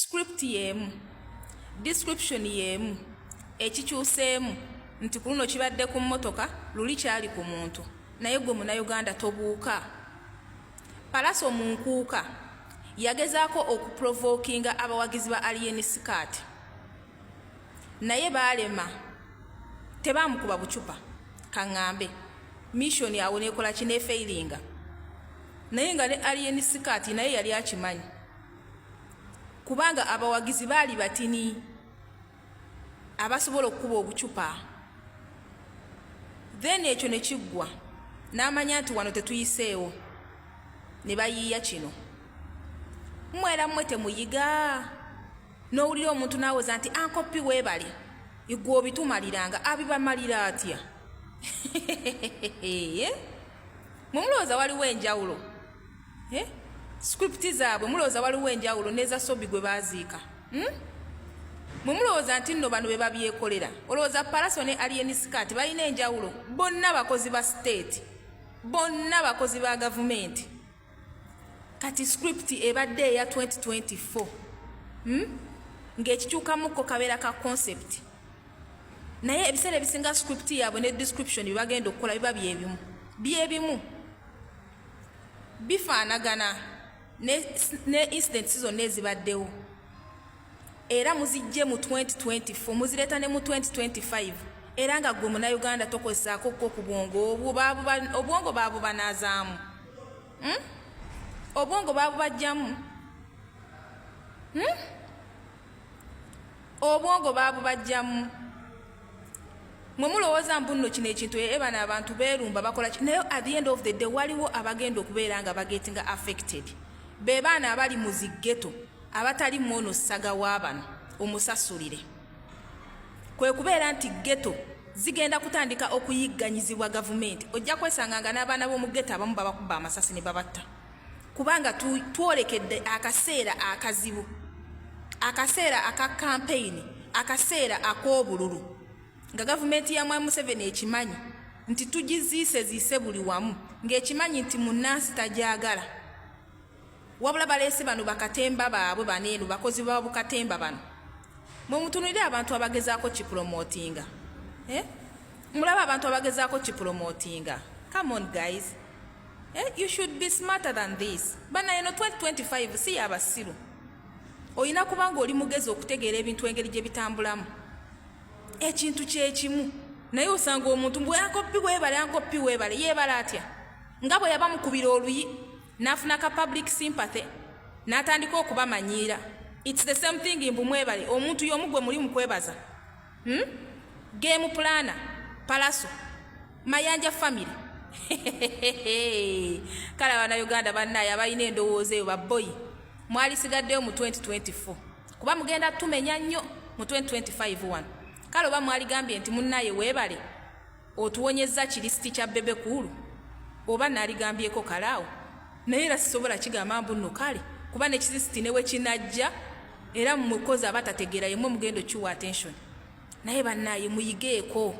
script yeemu description yeemu ekikyuseemu nti ku luno kibadde ku mmotoka luli kyali ku muntu naye gwe munauganda tobuuka palaso mu nkuuka yagezaako okuprovokinga abawagizi ba aliyeni sikaati naye baalema tebaamukuba bucupa kaŋŋambe mishoni awo neekola kinefeiringa naye nga ne aliyeni sikaati naye yali akimanyi kubanga abawagizi baali batini abasobola okukuba obucupa then ekyo ne kiggwa n'amanya nti wano tetuyiseewo ne bayiiya kino mmwera mmwe temuyiga n'owulira omuntu n'awoza nti ankoppi weebale igwe obitumaliranga abibamalira atya mwe mulowooza waliwo enjawulo eh? script zaabwe mulowooza waliwo enjawulo neza sobi gwe baaziika hmm? mwe mulowooza nti nno bano be babyekolera olowooza palaso ne alien skat balina enjawulo bonna bakozi ba state bonna bakozi ba gavumenti kati script ebadde eya 2024 hmm? ng'ekikyukamukko kabeera ka concept naye ebiseera ebisinga script yaabwe ne description byebagenda okukola biba byebimu byebimu bifaanagana ne, ne incidents zonna ezibaddewo era muzijje mu 2024 muzireeta ne mu 2025 era nga gwe munauganda tokozesaako ko ku bwongo obwongo babubanazaamu hmm? obwongo babubajjamu hmm? obwongo babubajjamu mwe mulowooza mbu nno kino ekintu ee eh, bano abantu beerumba bakola ki naye at the end of the day waliwo abagenda okubeera nga bagetinga affected be baana abali mu ziggeto abatali mwono ssaga wa bano omusasulire kwe kubeera nti ggeto zigenda kutandika okuyigganyizibwa gavumenti ojja kwesanga nga n'abaana b'omu ggeto abamu babakubba amasasi ne babatta kubanga twolekedde akaseera akazibu akaseera aka kampeyini akaseera ak'obululu nga gavumenti ya mwami museveni ekimanyi nti tugiziise ziise buli wamu ng'ekimanyi nti munnansi tagyagala wabula baleese bano bakatemba baabwe baneeno bakozi ba bukatemba bano mwe mutunulire abantu abagezaako kipromotinga eh? mulaba abantu abagezaako kipromotinga come on guys Eh, you should be smarter than this. Bana eno 2025 si ya basiru. Oyina kubanga oli mugezi okutegeera ebintu engeri gye bitambulamu. Ekintu kye kimu. Naye osanga omuntu mbu yankoppi webale yankoppi webale yebale atya. Nga bwe yaba mukubira oluyi n'afuna ka public sympathy n'atandika okubamanyiira. It's the same thing mbu mwebale omuntu y'omu gwe muli mu kwebaza. hmm? game plana palaso mayanja family kale abana uganda banaye abalina endowooza eyo baboyi mwalisigaddeyo mu 2024 kuba mugenda tumenya nnyo mu 2025 wano kale oba mwaligambye nti munaye webale otuwonyezza kirisiti kya bebe kuulu oba naligambyeko kalaawo naye era sisobola kigamba mbu nno kale kuba ne kirisiti ne wekinajja era mwekozi abatategeera yemwe mugendo kiwa attention naye bannaye muyigeeko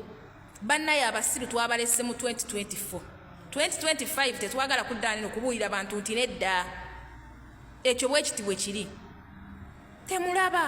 bannaye abasiru twabalese mu 2024 2025 tetwagala kuddaanino kubuulira bantu nti nedda ekyo bwekiti bwe kiri temulaba